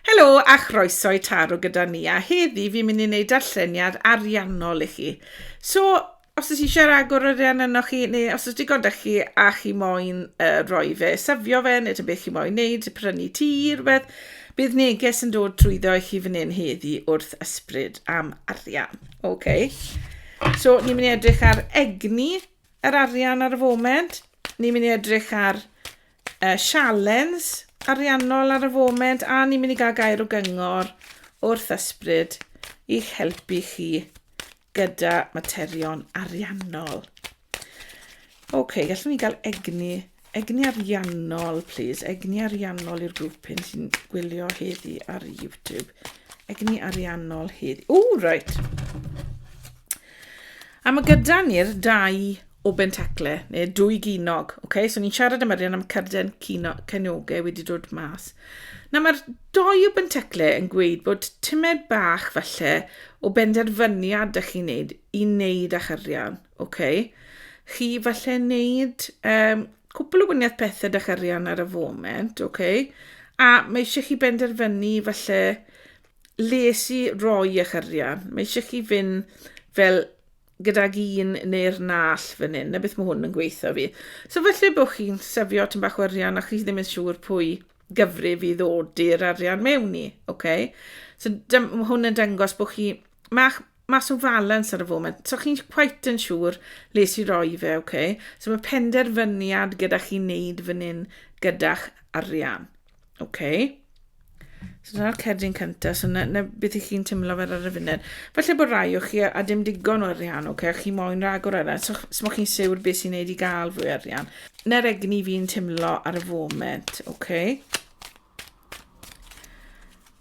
Helo a chroeso i Taro gyda ni, a heddi fi'n mynd i wneud darlleniad ariannol i chi. So, os ydych chi eisiau rhagor o arian yno chi, neu os ydych digon da chi a chi moyn uh, roi fe, safio fe, neu beth chi moyn wneud, prynu ti, rhywbeth, bydd neges yn dod trwyddo i chi fan hyn heddi wrth ysbryd am arian. Okay. So, ni'n mynd i edrych ar egni yr arian ar y foment, ni'n mynd i edrych ar y sialens ariannol ar y foment a ni'n mynd i gael gair o gyngor wrth ysbryd i'ch helpu chi gyda materion ariannol. Oce, okay, gallwn ni gael egni, egni ariannol, please. Egni ariannol i'r grŵp hyn sy'n gwylio heddi ar YouTube. Egni ariannol heddi. O, right. A mae gyda ni'r dau o bentacle, neu dwy ginog. Okay? So ni'n siarad am arian am carden cenoge wedi dod mas. Na mae'r doi o bentacle yn gweud bod tymed bach falle o benderfyniad da chi'n neud i wneud â'ch arian. Okay? Chi falle wneud um, cwpl o wyniaeth pethau da'ch arian ar y foment, okay? a mae eisiau chi benderfynu falle les i roi eich arian. Mae eisiau chi fynd fel gydag un neu'r nall fan hyn, na beth mae hwn yn gweithio fi. So felly bod chi'n sefio tyn bach o arian a chi ddim yn siŵr pwy gyfrif i ddod i'r arian mewn i, oce? Okay? So mae hwn yn dangos bod chi mach, mas o falans ar y foment, so chi'n quite yn siŵr les i roi fe, oce? Okay? So mae penderfyniad gyda chi'n neud fan hyn gyda'ch arian. Oce. Okay. So dyna'r cerdyn cyntaf, so na, na beth i chi'n teimlo fel ar y funud. Felly bod rai o chi a, a dim digon o arian, oce, okay, a chi moyn rhagor o arian, so, so mae chi'n siwr beth sy'n neud i gael fwy arian. Na'r egni fi'n teimlo ar y foment, oce. Okay.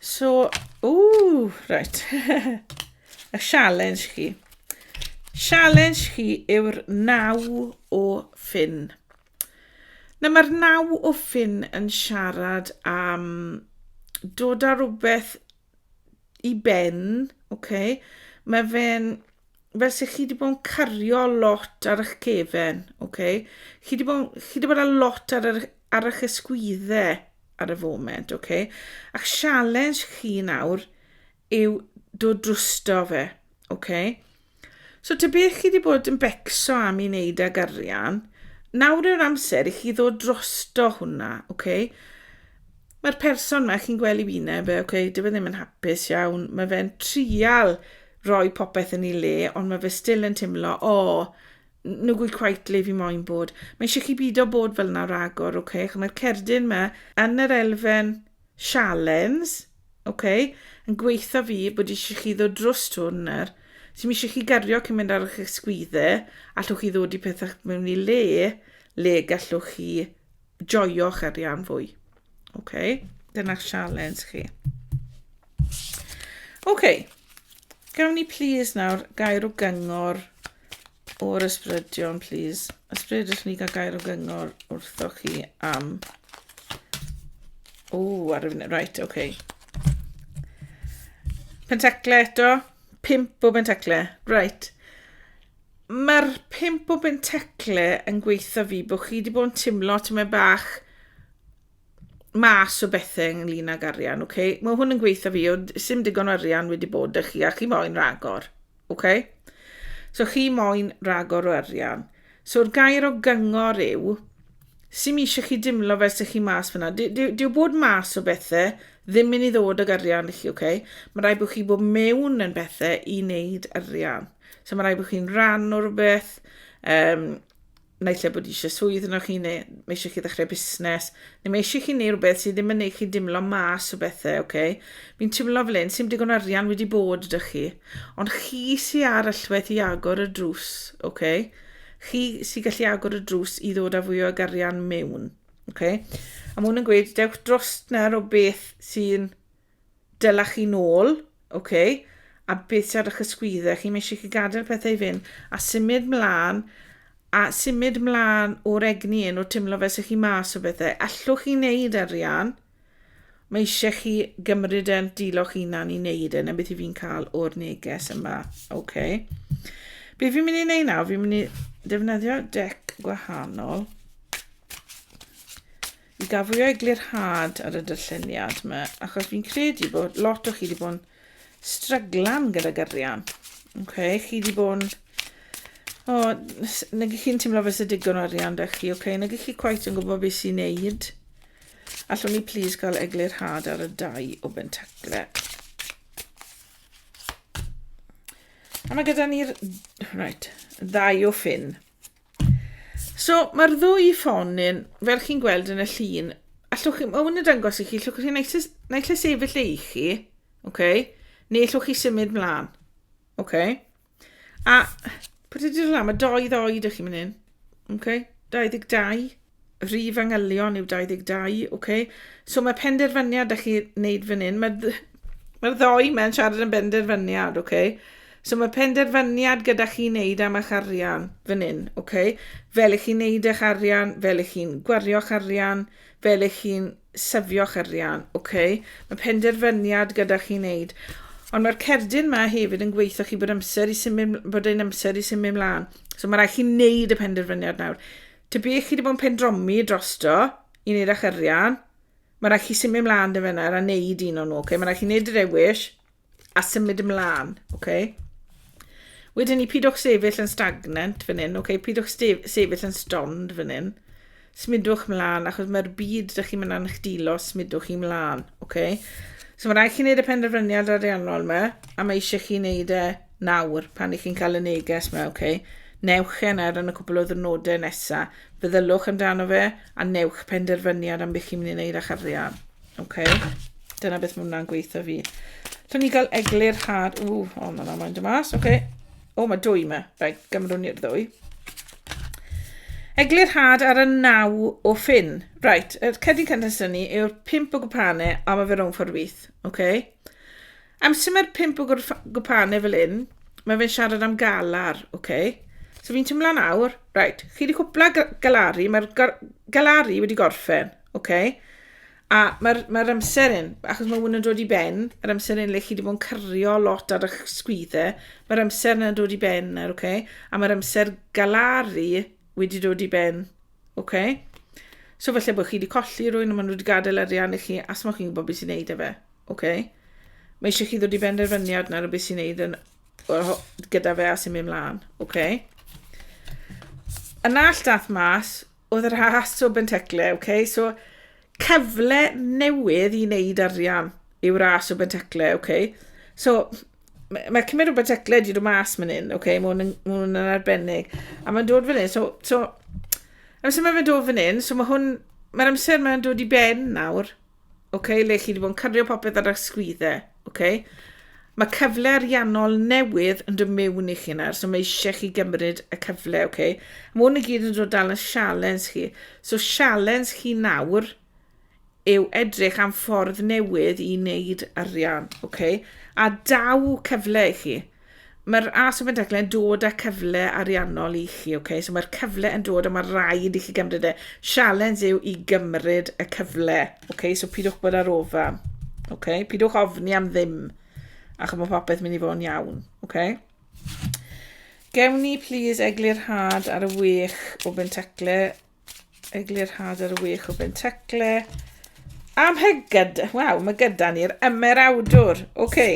So, ww, right. y challenge chi. Challenge chi yw'r naw o ffyn. Nawr mae'r naw o ffin yn siarad am dod â rhywbeth i ben, oce? Mae fe'n fel se chi 'di bod yn cario lot ar 'ych cefen, oce? Chi 'di bod chi 'di bod â lot ar yr ar 'ych ysgwydde ar y foment, oce? A'ch sialens chi nawr yw dod drwsto fe, ok? So ta beth chi wedi bod yn becso am i wneud ag arian, nawr yw'r amser i chi ddod drosto hwnna, ok? Mae'r person yma, chi'n gweld i fine, be, ok, dyw e ddim yn hapus iawn, mae fe'n trial roi popeth yn ei le, ond mae fe still yn teimlo, o, oh, nhw gwy quite le fi moyn bod. Mae eisiau chi byd o bod fel yna ragor, ok? Mae'r cerdyn yma yn yr elfen Sialens, ok, yn gweitha fi bod eisiau chi ddod drws hwn ar. Ti'n eisiau chi gario cyn mynd ar eich ysgwydde, allwch chi ddod i pethau mewn i le, le gallwch chi joio'ch arian fwy. Ok, dyna'ch sialens chi. Ok, gawn ni please nawr gair o gyngor O'r ysbrydion, please. Ysbryd, ydych ni gael gair o gyngor wrthoch chi am... O, ar y funud, right, oce. Okay. Pentacle eto, pimp o bentacle, right. Mae'r pimp o bentacle yn gweithio fi bod chi wedi bod yn timlo ti'n meddwl bach mas o bethe ynglyn ag arian, ok? Mae hwn yn gweithio fi, oedd sy'n digon o arian wedi bod â chi, a chi moyn ragor, ok? So chi moyn ragor o arian. So'r gair o gyngor yw, sy'n mi eisiau chi dimlo fel sy'ch chi mas fyna. Dyw bod mas o bethe ddim mynd i ddod ag arian i chi, ok? Mae rai bod chi bod mewn yn bethe i wneud arian. So mae rai bod chi'n rhan o'r beth, um, naill lle bod eisiau swydd yno chi, neu mae eisiau chi ddechrau busnes, neu mae eisiau chi neu rhywbeth sydd ddim yn ei chi dimlo mas o bethau, oce? Okay? Fi'n timlo fel un, sy'n digon arian wedi bod ydych chi, ond chi sy'n ar allwedd i agor y drws, oce? Okay? Chi sy'n gallu agor y drws i ddod â fwy o garian mewn, oce? Okay? A mae hwn yn gweud, dewch dros nawr o beth sy'n Dyla chi nôl, ok, a beth sydd ar eich ysgwyddau chi, mae eisiau chi gadael pethau i fynd, a symud mlaen, a symud mlaen o'r egni un, o teimlo fel sy'ch chi mas o bethau. Allwch chi wneud arian, mae eisiau chi gymryd e'n diloch hunan i wneud e, na beth i fi'n cael o'r neges yma, ok. Be fi'n mynd i wneud nawr, fi'n mynd i defnyddio dec gwahanol, I gafwyo eglurhad ar y dyrlleniad yma, achos fi'n credu bod lot o chi wedi bod yn stryglan gyda gyrian. Okay? Chi wedi bod yn... O, nag ych chi'n teimlo fes y digon o arian da chi, okay? nag ych chi quite yn gwybod beth sy'n neud. Allwn ni plis gael eglurhad ar y dau o bentacle. A mae gyda ni'r... Right, ddau o ffyn. So, mae'r ddwy ffon yn, fel chi'n gweld yn y llun, allwch chi, mae hwn yn dangos i chi, allwch chi naill naill lle sefyll ei chi, okay, neu allwch chi symud mlaen. Okay. A, pryd ydy'r lan, mae doi ddoed i chi mynd hyn. Okay. 22. Rhif angylion yw 22, ok. So mae penderfyniad da chi wneud fan hyn. Mae'r dd- mae'r ddou mae'n siarad yn benderfyniad, ok. So mae penderfyniad gyda chi wneud am eich arian fan hyn, ok. Fel ych chi'n wneud eich arian, fel ych chi'n gwario'ch arian, fel ych chi'n syfio'ch arian, ok. Mae penderfyniad gyda chi wneud. Ond mae'r cerdyn yma hefyd yn gweithio chi bod amser i symud, bod ein amser i symud mlaen. So mae rhaid chi wneud y penderfyniad nawr. Tybech chi 'di bod yn pendromi drosto i wneud â'ch arian? Mae rhaid chi symud ymlaen dy fenar a wneud un o'n nhw, okay? Mae rhaid chi wneud y dewis a symud ymlaen, okay? Wedyn ni, pidwch sefyll yn stagnant fan hyn, okay? Pidwch sefyll yn stond fan hyn. Smudwch mlaen, achos mae'r byd ydych chi'n mynd â'n chdilo, smudwch chi mlaen, okay? So mae rhaid chi wneud y penderfyniad ariannol yma, a mae eisiau chi wneud e Nawr, pan 'y chi'n cael y neges 'ma, ok, newch e nawr yn y cwpl o ddwrnodau nesa, feddyliwch amdano fe, a newch penderfyniad am beth chi'n mynd i wneud â'ch arian. Ok? Dyna beth mae hwnna'n gweithio fi. Llwn ni gael eglur had... Ww, o, oh, mae hwnna'n mynd y mas, ok. O, oh, mae dwy yma. Rai, gymrwn ni'r ddwy. Eglur had ar y naw o ffin. Right, y cedyn cynnes ni yw'r pimp o gwpane, a mae fe rhwng ffordd wyth. Ok? Amser mae'r pump o gwrf- gwpane fel hyn, mae fe'n siarad am galar, oce? So fi'n tymlo nawr, reit, chi wedi cwpla ga- galari, mae'r gar- galari wedi gorffen, oce? A mae'r mae amser hyn, achos mae hwn yn dod i ben, yr amser hyn le chi wedi bod yn cyrio lot ar eich sgwyddau, mae'r amser yna'n dod i ben nawr, oce? A mae'r amser galaru wedi dod i ben Ok. So falle bod chi wedi colli rhywun a maen nhw wedi gadael arian i chi a smoch chi'n gwybod beth sy'n neud e fe. Ok. Mae eisiau chi ddod i benderfyniad nawr o beth sy'n neud yn, gyda fe a sy'n mynd mlaen. Ok. Yn all dath mas oedd yr has o bentecle. Ok. So cyfle newydd i wneud arian yw ras o bentecle. Ok. So Mae, mae cymryd rhywbeth tecled i ddod mas mynd hyn, oce, okay? mae hwn yn, ma hwn yn arbennig. A mae'n dod fan hyn, so, so, amser mae'n dod fan hyn, so mae hwn, mae'r amser mae'n dod i ben nawr, oce, okay? le chi wedi bod yn cario popeth ar eich sgwyddau, oce. Okay? Mae cyfle ariannol newydd yn dod mewn i chi nawr, so mae eisiau chi gymryd y cyfle, oce. Okay? Mae hwn i gyd yn dod dal yn sialens chi. So sialens chi nawr, oce, yw edrych am ffordd newydd i wneud arian, okay? a daw cyfle i chi. Mae'r ASO Bentecla yn dod â cyfle ariannol i chi, okay? so mae'r cyfle yn dod a mae rhaid i chi gymryd e. Sialens yw i gymryd y cyfle, okay? so pidwch bod ar ofan, okay? pidwch ofni am ddim, achos mae popeth mynd i fod yn iawn. Okay? Gewn ni, please, eglurhad ar y wech o Bentecla Eglurhad Had yr wych o Bentecle. Am hygyd, waw, mae gyda ni'r ymerawdwr. Oce. Okay.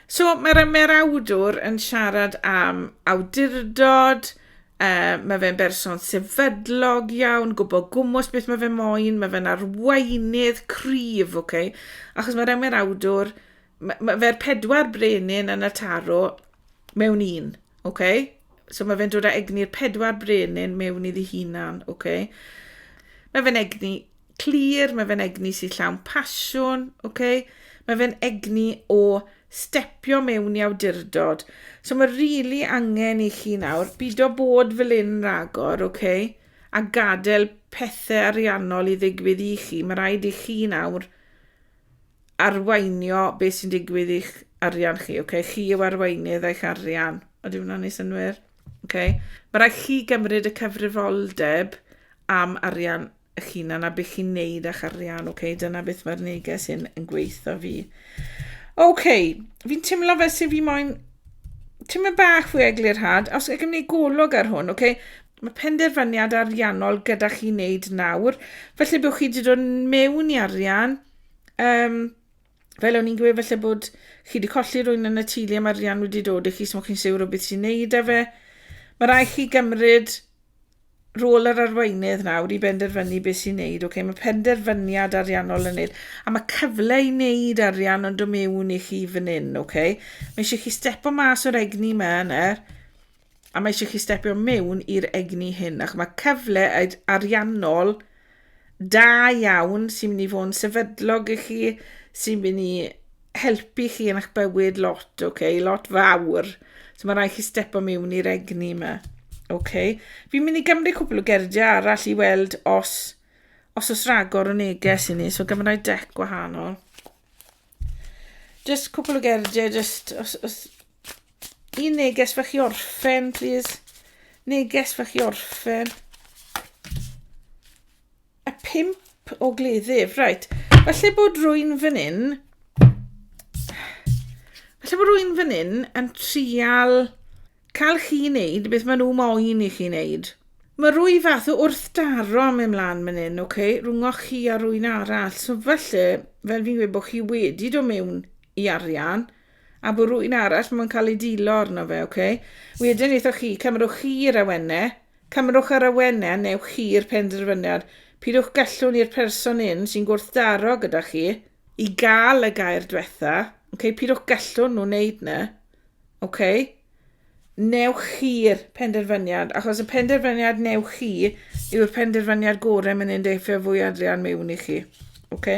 So, mae'r ymerawdwr yn siarad am awdurdod, uh, mae fe'n berson sefydlog iawn, gwybod gwmwys beth mae fe moyn, mae fe'n arweinydd cryf, oce. Okay? Achos mae'r ymerawdwr ma' ma' fe'r pedwar brenin yn y taro mewn un, ok? So mae fe'n dod â egni'r pedwar brenin mewn iddi hunan, ok? Mae fe'n egni clir, mae fe'n egni sy'n llawn pasiwn, ok? Mae fe'n egni o stepio mewn i awdurdod. So mae rili really angen i chi nawr byd o bod fel un ragor, ok? A gadael pethau ariannol i ddigwydd i chi. Mae rhaid i chi nawr arweinio beth sy'n digwydd i'ch arian chi, ok? Chi yw arweinydd eich arian. Oeddi hwnna'n neud synwyr? Ok. Mae rhaid chi gymryd y cyfrifoldeb am arian eich hunan a beth chi'n neud â'ch arian, ok? Dyna beth mae'r neges hyn yn gweithio fi. Ok, fi'n teimlo fel sy'n fi moyn teimlo bach fwy eglurhad, os ydych chi'n gwneud golwg ar hwn, ok? Mae penderfyniad ariannol gyda chi wneud nawr, felly byddwch chi wedi dod mewn i arian, Um, fel o'n i'n gweud, felly bod chi wedi colli rwy'n yn y tili am arian wedi dod i chi, so chi'n siwr o beth sy'n neud â fe. Mae rai chi gymryd rôl yr arweinydd nawr i benderfynu beth sy'n neud. Okay? Mae penderfyniad ariannol yn neud. A mae cyfle i neud arian ond o mewn i chi fan hyn. Okay? Mae eisiau chi stepo mas o'r egni yma yna. Er. a mae eisiau chi stepio mewn i'r egni hyn, ac mae cyfle ariannol da iawn sy'n mynd i fod yn sefydlog i chi, sy'n mynd i helpu chi yn eich bywyd lot, oce, okay? lot fawr. So mae rhaid chi stepo mewn i'r egni yma. Oce. Okay. Fi'n mynd i gymryd cwbl o gerdiau arall i weld os, os os ragor o neges i ni. So gymryd dec gwahanol. Just cwpl o gerdiau, just... Os, os, un neges fach i orffen, please. Neges fach i orffen. A pimp o gleddyf, right. Falle bod rwy'n fan hyn... Falle bod rwy'n fan hyn yn trial Cael chi wneud beth maen nhw moyn i chi wneud. Mae rwy fath o wrthdaro am mynd mlaen man hyn, ok, rhwngwch chi a rwy'n arall, so falle, fel fi'n gweud bod chi wedi do mewn i arian, a bod rwy'n arall mae'n cael ei dilo arno fe, ok. Wedyn eithoch chi, cymrwch chi yr awenne, cymrwch yr awenne a newch chi'r penderfyniad, pidwch gallwn i'r person un sy'n gwrthdaro gyda chi, i gael y gair dwetha, ok, pidwch gallwn nhw wneud na. Ok? Newch chi'r penderfyniad, achos y penderfyniad newch chi yw'r penderfyniad gorau mynd i'n deithio fwy adrian mewn i chi. Ok?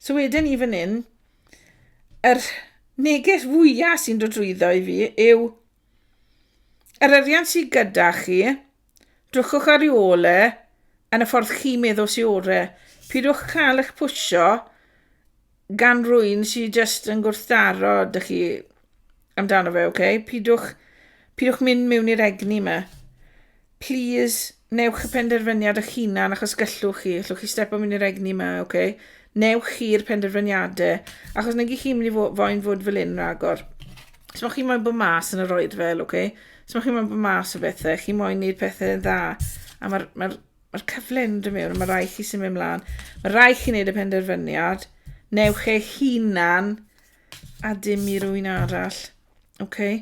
So wedyn i fan hyn, yr neges fwyaf sy'n dod drwyddo i fi yw yr arian sydd gyda chi, drwchwch ar ei ôl e yn y ffordd chi'n meddwl sy'n orau. Pidwch cael eich pwysio gan rwy'n sy'n just yn gwrthdaro dych chi amdano fe, oce? Okay? Pidwch, pidwch mynd mewn i'r egni yma. Please, newch y penderfyniad eich hunan achos gyllwch chi, allwch chi stepo mewn i'r egni yma, oce? Okay? Newch chi'r penderfyniadau, achos nag i chi mynd i fo, foi'n fod fel un ragor. Os mae chi moyn bod mas yn yr oed fel, oce? Okay? Os mae chi moyn bod mas o bethau, chi moyn gwneud pethau yn dda, a mae'r mae Mae'r cyfle yn dod mewn, mae rai chi sy'n mynd mlaen. Mae rai chi'n neud y penderfyniad. Newch eich hunan a dim i rwy'n arall. Okay?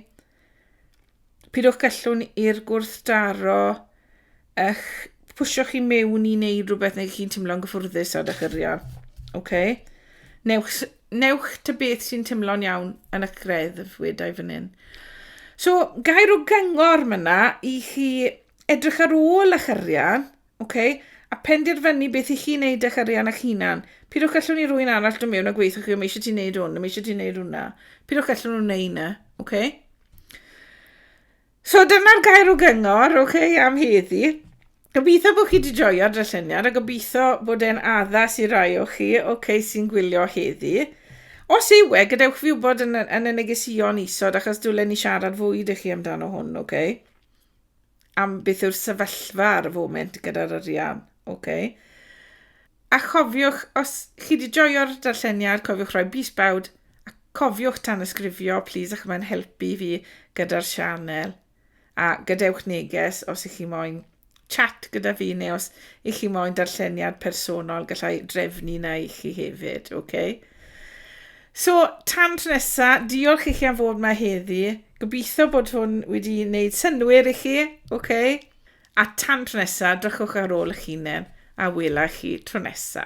Pidwch gallwn i'r gwrthdaro eich pwysio chi mewn i wneud rhywbeth neu chi'n teimlo'n gyffwrddus ar eich yrriau. Okay? Newch, newch ta beth sy'n teimlo'n iawn yn eich greddf wedau fan hyn. So, gair o gyngor myna i chi edrych ar ôl eich arian, okay, a penderfynu beth i chi wneud eich arian eich hunan. Pidwch gallwn ni rwy'n arall dod mewn a gweithio chi, mae eisiau ti wneud hwn, mae eisiau ti wneud hwnna. Pidwch gallwn nhw wneud yna, okay? So dyna'r gair o gyngor, okay, am heddi. Gobeithio bod chi wedi joio darlleniad a gobeithio bod e'n addas i rai o chi, okay, sy'n gwylio heddi. Os yw e, gadewch fi wybod yn, yn y negesion isod, achos dwlen ni siarad fwy ydych chi amdano hwn, oce? Okay? am beth yw'r sefyllfa ar y foment gyda'r arian. Okay. A chofiwch, os chi wedi joio'r darlleniad, cofiwch rhoi bus bawd a cofiwch tan ysgrifio, plis, ac mae'n helpu fi gyda'r sianel. A gadewch neges os ych chi moyn chat gyda fi neu os ych chi moyn darlleniad personol, gallai drefnu na i chi hefyd, oce? Okay? So, tan tro nesa, diolch i chi am fod yma heddi. Gobeithio bod hwn wedi wneud synwyr i chi, oce? Okay? A tan tro nesa, drychwch ar ôl eich hunain a wela chi tro nesa.